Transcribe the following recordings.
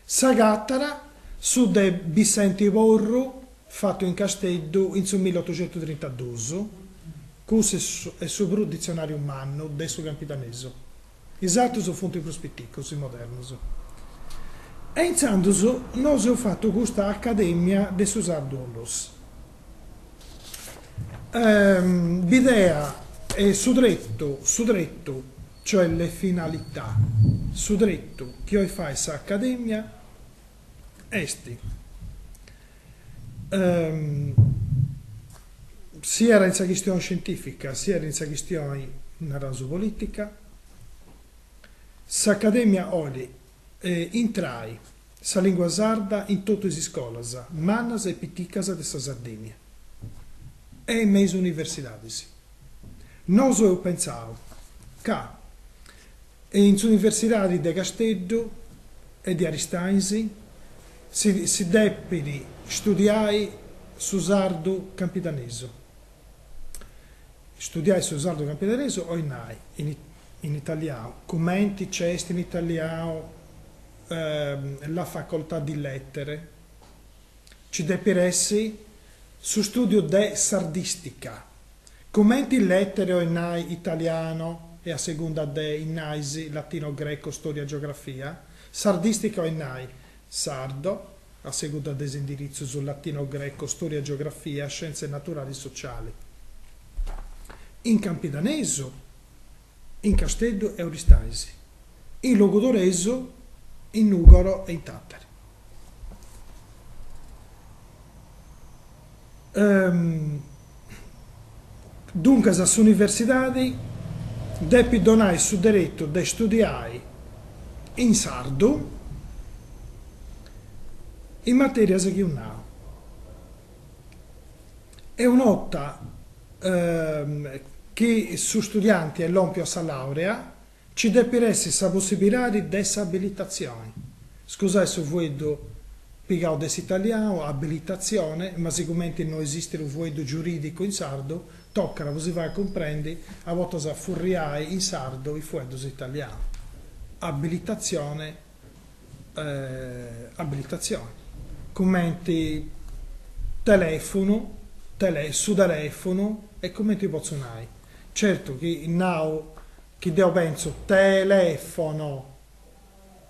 S'agatara su de Bissenti Porru fatu in Casteddu in su millottocentutrintadus, cussu est su prus ditzionàriu mannu de su campidanesu, is atrus funt prus piticus e modernus. E intzandus nosu eus fatu custa Acadèmia de su Sardu-Onlus. Bidea e su tretu, su tretu cioè le finalità, su tretu chi 'olit fai s'Acadèmia est siat in sa chistioni scientìfica siat in sa chistioni, naraus, polìtica, s'Acadèmia 'olit intrai sa lìngua sarda in totu is iscolas, mannas e piticas de sa Sardìnnia e me is universidadis. Nosu eus pensau ca in s'universidadi de Casteddu e de Aristanis si depit studiai su sardu campidanesu, studiai su sardu campidanesu, 'olit nai, in In italianu, cumenti nc'est in italianu la facoltà di lètere, nci depit essi su stùdiu de sardìstica, cumenti lètere 'olit nai italiano e a segunda de is ramus latino greco stòria geografia, sardìstica 'olit nai sardo, a segunda de is indiritzus latino greco stòria geografia scienze naturali sociali. In campidanesu. in Casteddu e Oristais, in Logudoresu, in Nùgoro e in Tàtari. Duncas s'universidadi depit donai su deretu de studiai in sardu is matèrias chi eus nau. E un' 'orta chi su studianti est lòmpiu a sa làurea, nci depit essi sa possibilidadi de s'abilitatzioni. Scusai su fueddu pigau de s'italianu, abilitatzione, ma sigumenti no esistit unu fueddu giurìdicu in sardu, tocat, po si fai cumprendi, a bortas a furriai in sardu is fueddus italianus. Abilitatzione. abilitatzioni, cumenti telèfunu, tele, su telèfunu e cumenti potzu nai, certu chi nau chi deu pentzu telefono,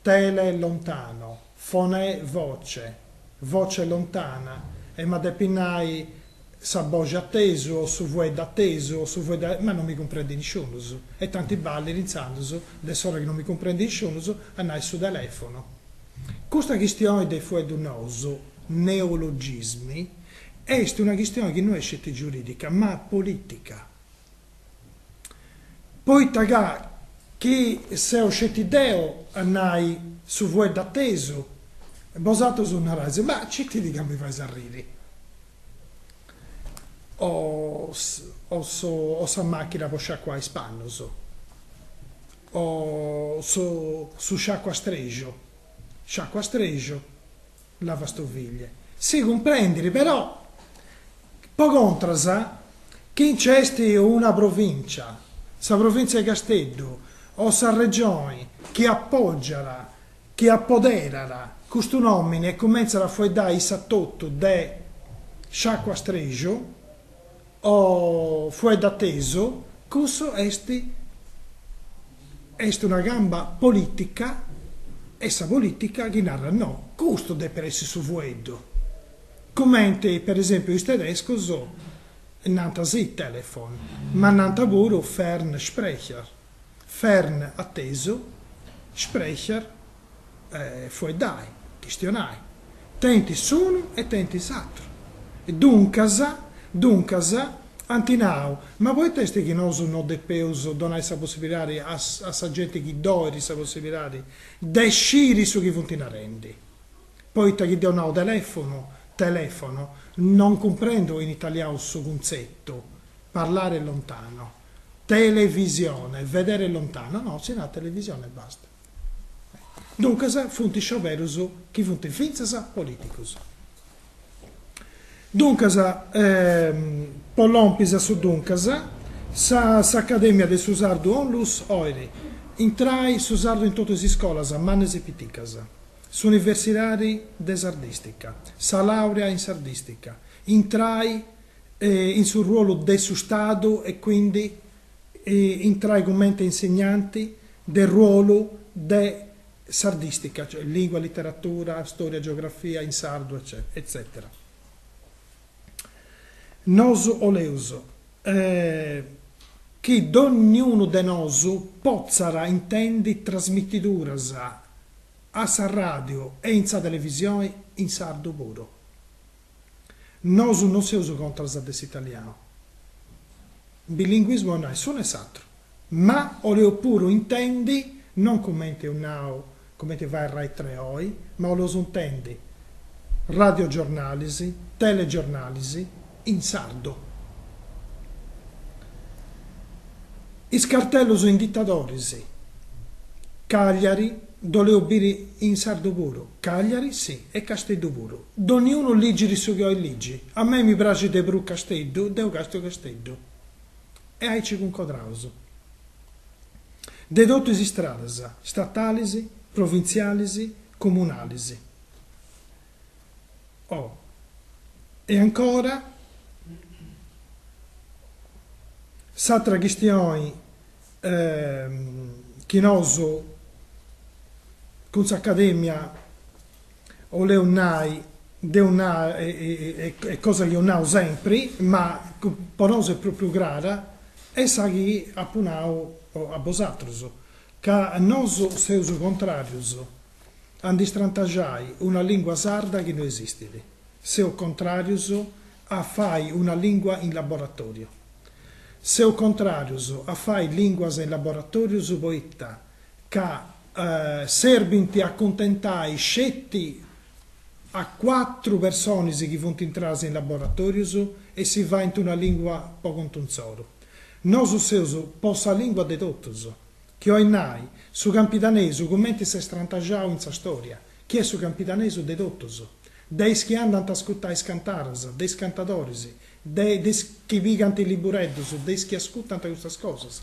tele lontano, fone voce, voce lontana e ma depu nai sa boxi atesu o su fuedda atesu o su fuedda ma non mi cumprendi nisciunus e tanti balit intzandus de s'ora chi non mi cumprendi nisciunus a nai su telefonu. Custa chistioni de fueddus nous, neologismi, est una chistioni chi no est sceti giuridica ma politica. Poita ca chi seu sceti deu a nai su fuedda atesu, bosatrus narais, ma citi·ti ca mi fais arriri o o sa machina po sciacuai is pannus o su sciacuastrexu, sciacuastrexu Lavastoviglie. Si cumprendit però, po contra, chi nc'est una provìncia, sa provìncia 'e Casteddu, o sa Regione, chi apògiat, chi apoderat custu nòmine e cumentzat a fueddai issa totu de sciacuastrexu, O fuedda atesu, cussu est est una camba politica, est sa politica chi narat no, custu depet essi su fueddu, cumenti per esempiu is tedescus nant sì Telefon, ma nant puru Fernsprecher. Fern atesu, Sprecher, fueddai, chistionai, tenint s'unu e tenint s'atru. Duncas, duncas, ant nau, ma poita est chi nosu no depeus donai sa possibilidadi a a sa genti chi ddu 'olit sa possibilidadi de sciri su chi funt narendi? Poita chi deu nau telèfonu, non cumprendu in italiau su cuntzetu, parlare lontano. televisione, vedere lontano, no, si narat televisione e basta. Duncas funt scioberus chi funt fintzas politicus. Duncas, po lompis a su duncas, sa s'Acadèmia de su Sardu Onlus 'olit, intrai su sardu in totus is iscolas, mannas e piticas, s'universidadi de sardìstica, sa làurea in sardìstica, intrai in su ruolu de su Stadu e quindi intrai cumenti insegnanti de ruolu de sardistica, cioè lingua, literatura, storia, geografia in sardu eccetera. Nosu 'oleus chi dogniunu de nosu potzat intendi trasmitiduras a sa ràdiu e in sa televisioni in sardu puru. Nosu non seus contras de s'italianu, bilinguismu a nai s'unu e s'atru, ma 'oleu puru intendi, non cumenti eus nau, cumenti fait Rai Tre oi, ma 'oleus intendi radioggiornalis, telegiornalis in sardu. Is cartellus indicadoris, Cagliari, dd'oleu biri in sardu puru, Cagliari si e Casteddu puru. Doniunu ligit su chi oit ligi. A mei mi praxit de prus Casteddu, deu castu Casteddu. E aici cuncodraus. De totu is istradas, statalis, provintzialis, comunalis. Oh. E ancora, s'atra chistioni chi nosu cun s'Academia 'oleu nai, deu nau, est cosa chi deu nau sempri, ma po nosu est pròpriu crara, est sa chi apu nau a bosatrus, ca nosu seus contràrius a ndi strantaxai una lìngua sarda chi no esistit, seus contràrius a fai una lìngua in laboratòriu, seus contràrius a fai lìnguas in laboratòrius poita ca serbint a cuntentai sceti a cuatru personis chi funt intradas in laboratorius e si faint una lingua po contu insoru. Nosu seus po sa lingua de totus, chi oit nai, su campidanesu cumenti s'est strantaxau in sa storia, chi est su campidanesu de totus, de is chi andant a ascutai is cantaras, de is cantadoris, de is chi pigant is libureddus, de is chi ascutant custas cosas.